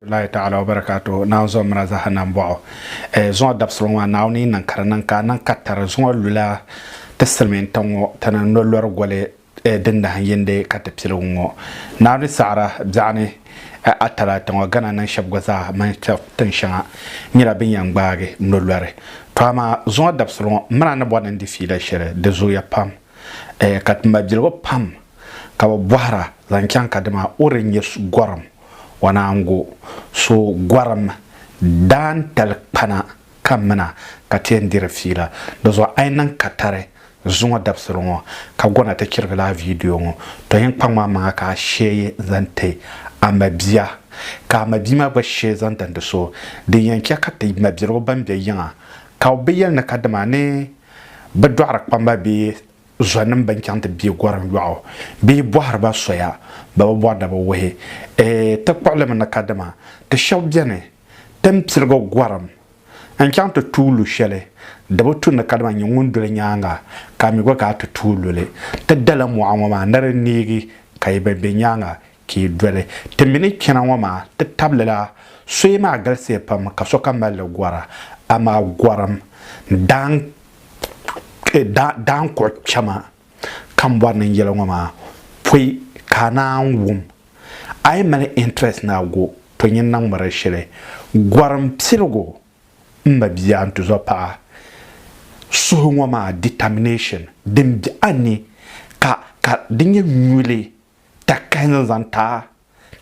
lahi ta'ala wa barakatuhu naawuni zuɣu mira zaha na m-bɔɣu eh, zuŋɔ dabisili ŋɔ maa naawuni yi niŋ ka di niŋ ka a niŋ ka tari zuŋɔ lula ti silimiin tiŋ ŋɔ tana ni lo lɔri goli eh, din nahin yindi ka ti piligu ŋɔ naawuni saɣira biɛɣu ni eh, a tala ti ŋɔ gana niŋ shɛb gba zaa mani tɛb tiŋ shɛŋa nyɛla bɛ ni yɛn gbaagi lo lɔri to amaa zuŋɔ dabisili ŋɔ mira ni bɔri ni n di fiila shɛli di zooya pam eh, ka ti mabiligu pam ka bɛ bɔhira zaŋ chaŋ ka dima o di nyɛ gɔrim O naan go so gɔrim daantali kpana ka mina ka ti yɛn diri fiila. Di zuɣu a yi niŋ katari zuŋɔ dabisili ŋɔ ka gɔna ti chirigi lala viidiyo ŋɔ, tɔ yen kpaŋm a maŋa ka a sheei n zaŋ ti a mabia ka a mabia maa gba sheei zaŋ dindi so. Din yɛn chɛ ka ti mabirigu ban be yiŋa ka o bi yɛli ni kadama ni bɛ dɔɣiri kpamba bee Zɔnim bɛn chaŋ ti bie gɔrim yɔɣu bee bɔhiri ba soya, bɛ bi bɔri da bi wuhi ti kpuɣili mi ni kadama ti shɛb beni tin piligi gɔrim n-chaŋ ti tuui lu shɛli di bi tu ni kadama nyin ŋun doli nyaaŋa ka a mi gba ka a ti tuui lu li. Ti dala mɔɣu ŋɔ maa ni di neegi ka yi bi be nyaaŋa Ka yi doli ti mi ni chana ŋɔ maa, ti tabili la soya maa galisiya pam ka sokam mali li gɔra. Amaa gɔrim daan daan kpuɣi kpɛma ka m bɔri ni n yɛli ŋɔ maa pɔi ka a naan wum. A yi mali interest ni a go pɔi nyin na ŋmari shili. Gɔrim piligu m ma bia n-tuzɔ paɣa suhu ŋɔ maa determination din be a ni ka ka di nyɛ nyuli ta kahin n zaŋ ta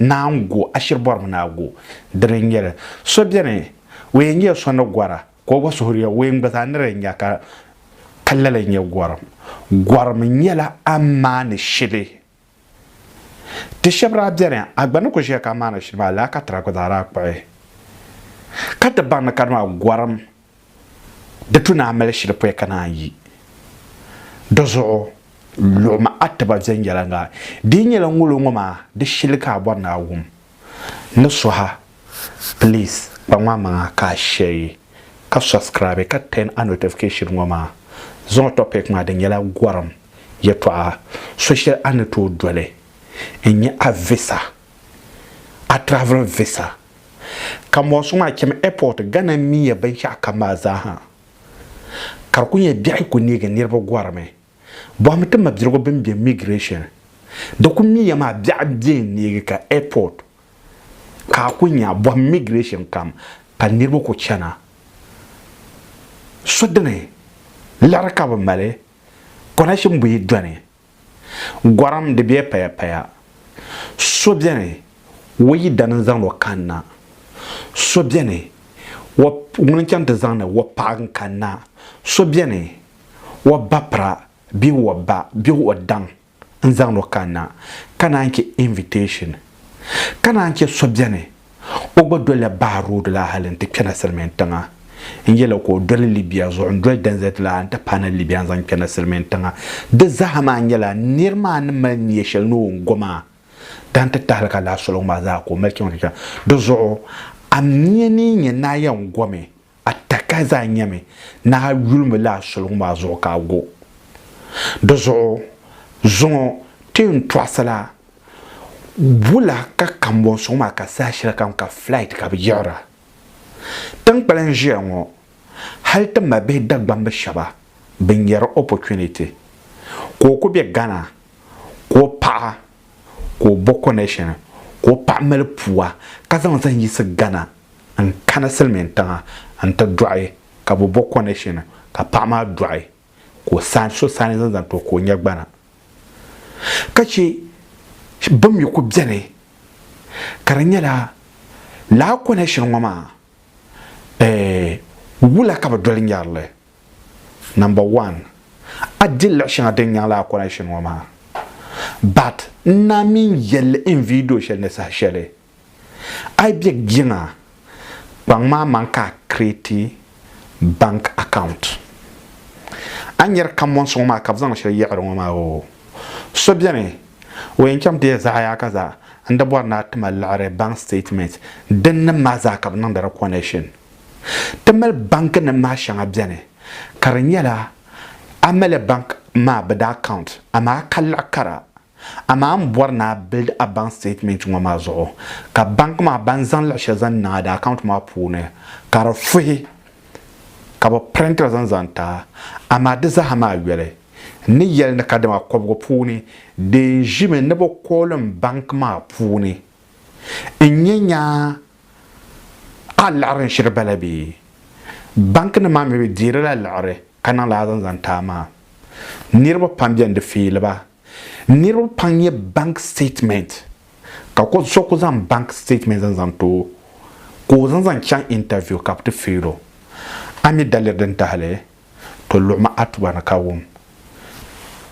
naa n go ashiri bɔri mi naa go dini n nyɛli so bɛni o yɛn nyɛla so ni gɔra ka o gba suhuri ya o yɛn gba zaa niri nya ka ka lala n nyɛ gɔrim gɔrim nyɛla a maani shili ti shɛbi daa bɛni a gba ni ku ʒiya ka a maani shili maa laa ka tira gba zaa daa kpuɣi ka ti baŋ ni kadi maa gɔrim Di tu naa mali shili pɔi ka naan yi di zuɣu luɣ ma a tiba viɛnyɛliŋga. Di yi nyɛla ŋolo ŋɔ maa di shili ka a bɔri ni a wum ni suha. Please kpa ŋɔ amaŋa ka a share ka subscribe ka turn a notification ŋɔ maa zuɣu topic maa di nyɛla gɔrim yɛtɔɣa so shɛli a ni tooi doli n-nyɛ a visa a travel visa Ka mɔri suŋ maa chɛmi airport, Ghana n mi ya binshɛɣu kam maa zaa ha. Ka di ku nyɛ biɛɣu ku neegi niriba gɔrimi. Bɔhimi ti mabirigu bini be migration. Di ku mi ya maa biɛɣu n bɛ n neegi ka airport ka a ku nya bɔhim migration kam ka niriba ku chana. So dini liɣiri ka bi mali connection buyi dɔni. Gɔrim di bɛ paya paya. So beni o yidana n-zaŋdi o kanna. So beni o ŋuni n-chaŋ ti zaŋdi o paɣa n-kanna. So beni o bapira bee o ba bee o daŋ n-zaŋdi o kanna ka naan che invitation. Ka naan che so beni O gba dolila Bahr Road la hali n-ti kpɛna Silimiin tiŋa. N yɛla ka o doli Libya zuɣu n-doli Denizet la n-ti paana Libya n-zaŋ kpɛna Silimiin tiŋa. Di zaa maa nyɛla nir maa ni mali nia shɛli ni o ni go maa daa n-ti tahi li ka lahi soli ŋun maa zaa ka o mali chaŋ ti chaŋ. Di zuɣu a mia ni yi nya ni a yɛn gomi A taka zaa nyɛmi ni a yulimi la a soligu maa zuɣu ka a go. Di zuɣu zuŋɔ ti ni tɔɣisila wula ka kambɔnsuŋ maa ka saha shɛli kam ka flight ka bɛ yiɣira tinkpali n ʒiya ŋɔ hali ti mabihi Dagbambi shɛba bɛ nyari opportunity ka o ku be Ghana ka o paɣa ka o bo connection ka o paɣa mali pua ka zaŋ zaŋ yiɣisi Ghana n kani silimiin tiŋa n ti dɔɣi ka bɛ bo connection ka paɣa maa dɔɣi ka o saani so saani zaŋ zaŋ ti o ka o nya gbana ka che bim mi ku beni ka di nyɛla laa connection ŋɔ maa eh wula ka bɛ doli nyarili number one a di luɣi shɛŋa din nyaŋ laa connection ŋɔ maa but n naa mi n yɛlli in video shɛli ni saha shɛli A yi bɛ jiŋa kpaŋ maa man ka a kireeti bank account. A ni yɛri kamonsi ŋɔ maa ka bɛ zaŋ shɛli yiɣiri ŋɔ maa oo, so beni o yɛn chaŋ ti ya zaɣaya ka zaa n di bɔri ni a ti ma liɣiri bank statement din nim maa zaa ka bɛ niŋdi di connection. Ti mali banki nim maa shɛŋa beni ka di nyɛla a mali bank maa bɛ daa account amaa ka liɣi kara Amaa m bɔri ni a build a bank statement ŋɔ maa zuɣu ka bank maa ban zaŋ luɣi shɛli zaŋ niŋ a di account maa puuni ka di fuhi ka bɛ print li zaŋ zaŋ ti a. Amaa di zaa ha maa yoli n ni yɛli ni ka dama kɔbigu puuni di yɛn ʒimi ni bɛ kooli m bank maa puuni n nya nyaa ka a liɣiri n shiri bala bee? Bank nim maa mi bɛ deeri la liɣiri ka niŋ li a zaŋ zaŋ ti a maa. Niriba pam beni di feeli ba. Niriba pam nyɛ bank statement ka so kuli zaŋ bank statement n zaŋ too ka o zaŋ zaŋ chaŋ interview ka bi ti fail o. A mi daliri din tahili to luɣimi Atuba ni ka wum.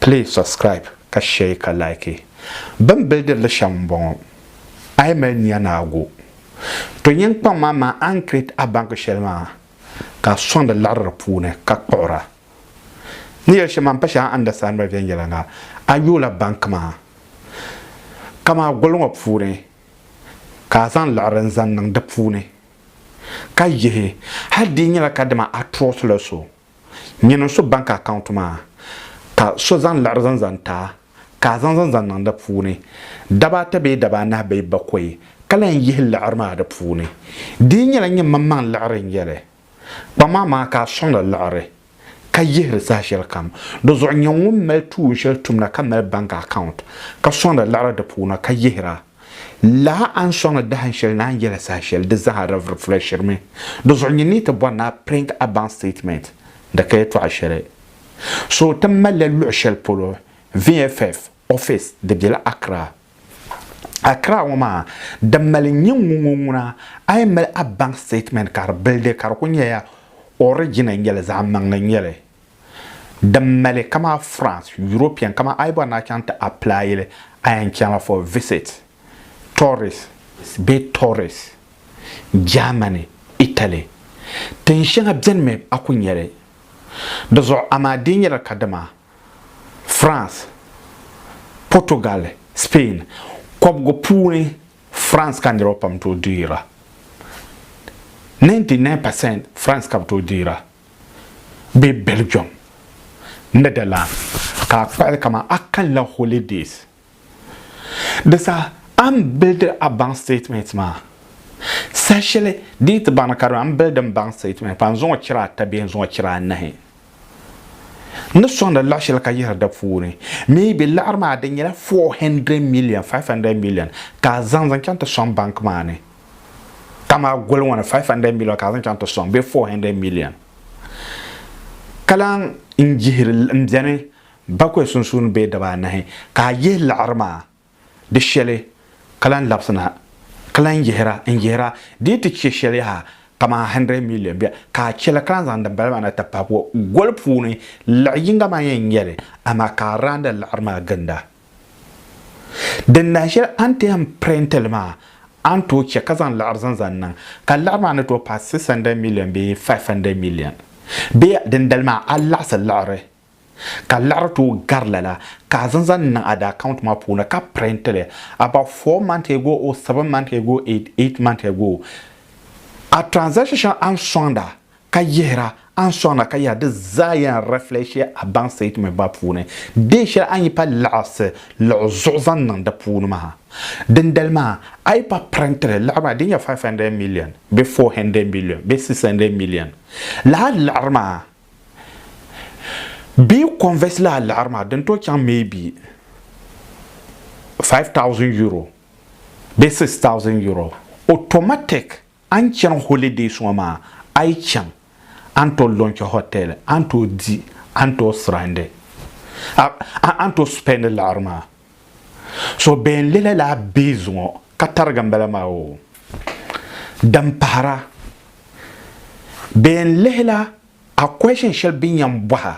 Please subscribe ka share ka like. Bini bilidiri li shɛm n bɔŋɔ, a yi mali nia ni a go to nyin kpaŋ maa maa a ni create a bank shɛli maa ka a sɔŋ di liɣiri di puuni ka kpuɣira. N ni yɛli shɛm maa, m pa shɛli a understand miri viɛnyɛliŋga. A yoola bank maa kamaa gol ŋɔ puuni ka a zaŋ liɣiri n zaŋ niŋ di puuni ka yihi hali di yi nyɛla ka dama a trust la so nyin n su bank account maa ka so zaŋ liɣiri zaŋ zaŋ ti a ka a zaŋ zaŋ zaŋ niŋ di puuni daba ata bee daba anahi bee bakoi ka lahi yihi liɣiri maa di puuni di yi nyɛla nyin maŋmaŋ liɣiri n yɛli Kpaŋ maa maa ka a sɔŋdi liɣiri, ka yihiri saha shɛli kam. Di zuɣu nyɛ ŋun mali tuun shɛli tumda ka mali bank account, ka sɔŋdi liɣiri di puuni ka yihira. Lala a ni sɔŋdi dahin shɛli ni a ni yɛli saha shɛli, di zaa di reflect-shirimi. Di zuɣu nyɛ ni ti bɔri ni a print a bank statement, di ka yɛtɔɣa shɛli. So ti malila luɣ shɛli polo, VFF office di bela Accra. Accra ŋɔ maa di mali n nyɛ ŋun ŋɔ ŋuna a yi mali a bank statement ka di bilidi ka di ku nyɛla origin n nyɛli zaɣ maŋli n nyɛli din mali kama France European kama a yi bɔri ni a chaŋ ti apply li a yɛn chaŋla for visit tourist bee tourist Germany Italy tin shɛŋa bɛni mi a ku nyɛli di zuɣu amaa di nyɛla kadama France, Portugal, Spain kɔbigu puuni France ka niriba pam tooi deeira. 99 percent France ka bɛ tooi deeira bee Belgium, Netherlands ka a kpuɣili kamani a kanila holidays. Di saha a ni bildi a baŋ statement maa, saha shɛli di ni ti baŋ ni ka di mi a ni bildi n baŋ statement maa, n zaŋ o chira ata bee n zaŋ o chira anahi. N ni sɔŋdi laɣ shɛli ka yihiri di puuni. Maybe laɣiri maa di nyɛla four hundred million, five hundred million ka a zaŋ zaŋ chaŋ ti sɔŋ bank maa ni. Kamani a goli ŋɔ ni five hundred million ka a zaŋ chaŋ ti sɔŋ bee four hundred million. Ka lahi n jihiri m beni. Bakɔi sunsuuni bee daba anahi ka a yihi liɣiri maa di shɛli ka lan labisi na, ka lan yihira n-yihira di yi ti chɛ shɛli yaha kaman hundred million bia, ka a chɛ li ka lan zaŋ dimbala maa na ti pahi bua. Goli puuni liɣi yiŋga maa yɛn nyɛ li, amaa ka a raandi liɣiri maa ginda. Din nahi shɛli a ni ti yɛn pirinti li maa, a ni tooi chɛ ka zaŋ liɣiri zaŋ zaŋ niŋ, ka liɣiri maa ni tooi paai six hundred million bee five hundred million. Bee dindali maa a laɣisi liɣiri Ka laɣiri ti o gari lala, ka a zaŋ zaŋ niŋ a da account maa puuni ka print li. About four months ago or seven months ago or eight months ago, a transaction shɛŋa a ni sɔŋda ka yihira, a ni sɔŋda ka yihira di zaa yɛn reflect ya a bank statement maa puuni. Deen shɛli a ni yi pa laɣisi luɣu zuɣu zaŋ niŋ di puuni maa. Dindali maa, a yi pa print li laɣiri maa di ni nyɛ five hundred million bee four hundred million bee six hundred million la a laɣiri maa, Bɛ convert la a liɣiri maa din tooi chaŋ maybe 5000 euro bee 6000 euro automatic a ni chani holidays ŋɔ maa a yi chaŋ a ni tooi launch hotel a ni tooi di a ni tooi sirandi a ni tooi spend liɣiri maa. So bɛn le lala bihi zuŋɔ ka tarigi m-bala maa o din pahira. Bɛn lihila a question shɛli bɛ ni yɛn bɔha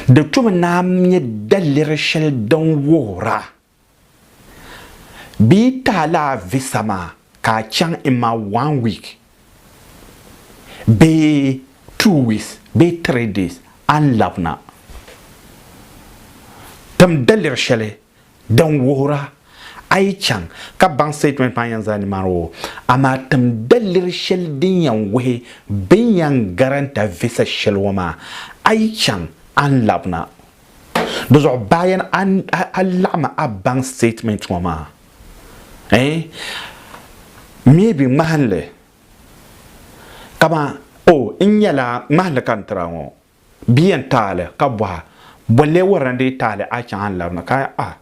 di tomi naan nyɛ daliri shɛli din wuhira bɛ yi ti alaavisa maa ka a chaŋ in ma one week bee two weeks bee three days a ni labina tim daliri shɛli din wuhira a yi chaŋ ka baŋ statement maa yɛn zaa nimaani o amaa tim daliri shɛli din yɛn wuhi bɛ ni yɛn garanta visa shɛli ŋɔ maa a yi chaŋ a ni labina Di zuɣu bayan a laɣimi a bank statement ŋɔ maa eh maybe ŋmahinli kaman oh n nyɛla ŋmahinli ka n tiri a ŋɔ bia yɛn taali ka bɔha bolli wuhiri ni di yi taali a chaŋ a ni labina ka ah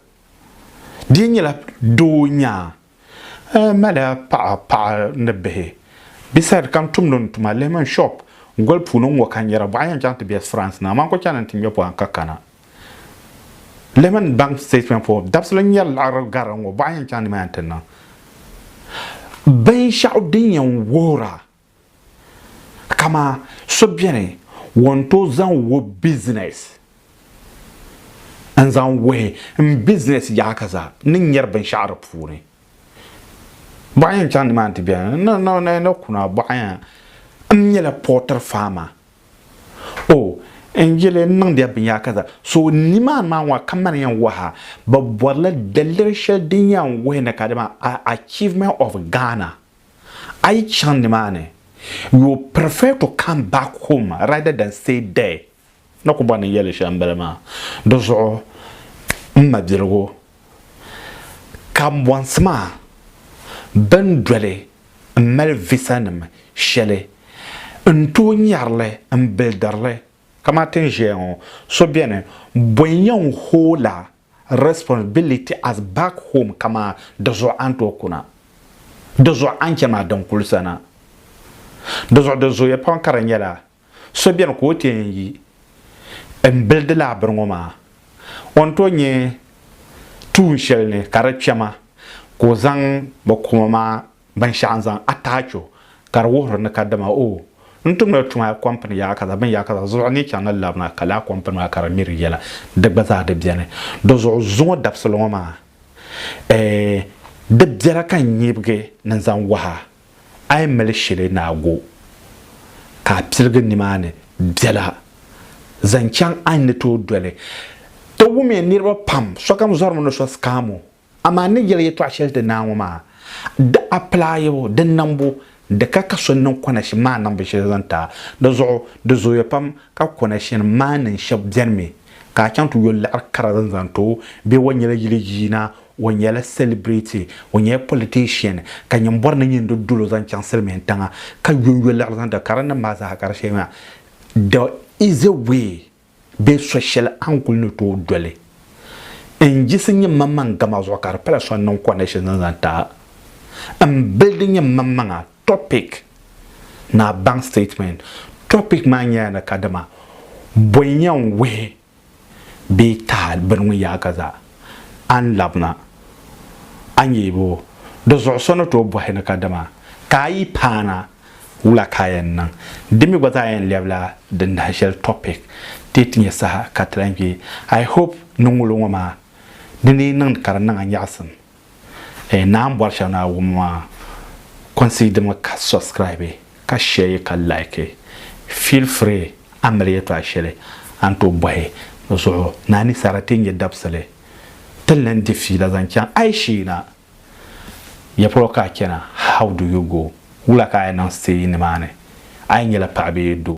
di yi nyɛla doo nyaa A mali a paɣa paɣa ni bihi. Beside ka n tumdi n tuma Lehman shop goli puuni n ŋɔ ka n yɛra bɔɣa yɛn chaŋ ti bɛ France na amaa n ku chani ni n ti ŋmɛ pɔhim ka kana. Lehman bank statement for dabisili n yɛri laɣiri garili ŋɔ bɔɣa yɛn chaŋ nimaani ti niŋ binshɛɣu din yɛn wuhira Kama so beni ŋun tooi zaŋ o business n zaŋ wuhi n business yaɣa ka za ni nyeri binshaɣu di puuni bɔɣa yɛn chaŋ nimaani ti beni no no no no kuna bɔɣa yɛn n nyɛla poultry farmer o n yili n niŋdiya binyɛra ka za so nimaani maa ŋɔ ka mani yɛn waha bi bɔrila daliri shɛli din yɛn wuhi ni kadama achievement of Ghana A yi chaŋ nimaani, you prefer to come back home rather than stay there. Ni ku bɔri ni n yɛli shɛm bili maa. Di zuɣu m mabiligu, kambɔnsi maa bɛn doli m mali visanim shɛli n tooi nyari li m bilidiri li. Kamani ti ni ʒiya ŋɔ, so beni bɔi n-yɛn hooi la responsibility as back home kamaa di zuɣu a ni tooi kuna di zuɣu a ni chɛ maa din kuli sana di zuɣu di zooya pam ka di nyɛla so bɛni ka o ti yɛn yi n bili di lahabiri ŋɔ maa o ni tooi nyɛ tuun shɛli ni ka di kpɛma ka o zaŋ bi kuma maa Binshɛɣu n-zaŋ ataacho ka di wuhiri ni kadama o ni tumdila tuma kɔmpini yaakaza bini yaakaza zuɣu ni yi chaŋ na labina ka laa kɔmpini maa ka di miri yɛla di gba zaa di beni. Di zuɣu zuŋɔ dabisili ŋɔ maa eeh di biɛla ka nyibigi ni zaŋ waha a yi mali shili ni a go ka a piligi nimaani biɛla zaŋ chaŋ a ni tooi doli. Ti wumiya niriba pam sokam zɔrimi ni so sikaamu Amaa n ni yɛli yɛtɔɣ shɛli ti naa ŋɔ maa, di apilaayibu, di niŋbu, di ka ka so niŋ kɔnɛshin maa niŋbu shɛli zaŋ ti a. Di zuɣu di zooya pam ka kɔnɛshin maa niŋ shɛb beni mi ka a chaŋ ti yo liɣiri kara din zaŋ ti o bee o nyɛla yili yiina, o nyɛla sɛlibiriti, o nyɛla pɔlitɛshin ka nyin bɔri ni nyin di dolo zaŋ chaŋ silimiin tiŋa ka yonyo liɣiri zaŋ ti a. Karimnim maa zaa kari shɛli maa, there is a way Bee so shɛli a ni kuli ni tooi doli n yiɣisi nyɛ maŋmaŋ gama zuɣu ka di pala so n niŋ connection zaŋ zaŋ ti a n bildi nyɛ maŋmaŋa topic ni a baŋ statement topic maa nyɛla ni ka dama bɔi nyɛ n wuhi bee taha bini ŋun yaai ka zaa a ni labina a nyɛibu di zuɣu so ni tooi bɔhi ni ka dama ka a yi paana Wula ka a yɛn niŋ? Di mi gba zaa yɛn lɛbila din nahi shɛli topic ti ti nyɛ saha ka ti lahi kpe. I hope ni ŋulo ŋɔ maa ni ni yi niŋdi ka di niŋ a nyaɣisim eeh naa m bɔri shɛli ni a wum maa consider mi ka subscribe ka share yi ka like feel free a mali yɛtɔɣa shɛli a ni tooi bɔhi di zuɣu ni a ni saɣiri ti nyɛ dabisili ti ni lan di fiila zaŋ chaŋ ayisheena. Ya polo ka a chana? How do you go? Wula ka a yi niŋ siteeji nimaani? A yi nyɛla paɣa bee doo?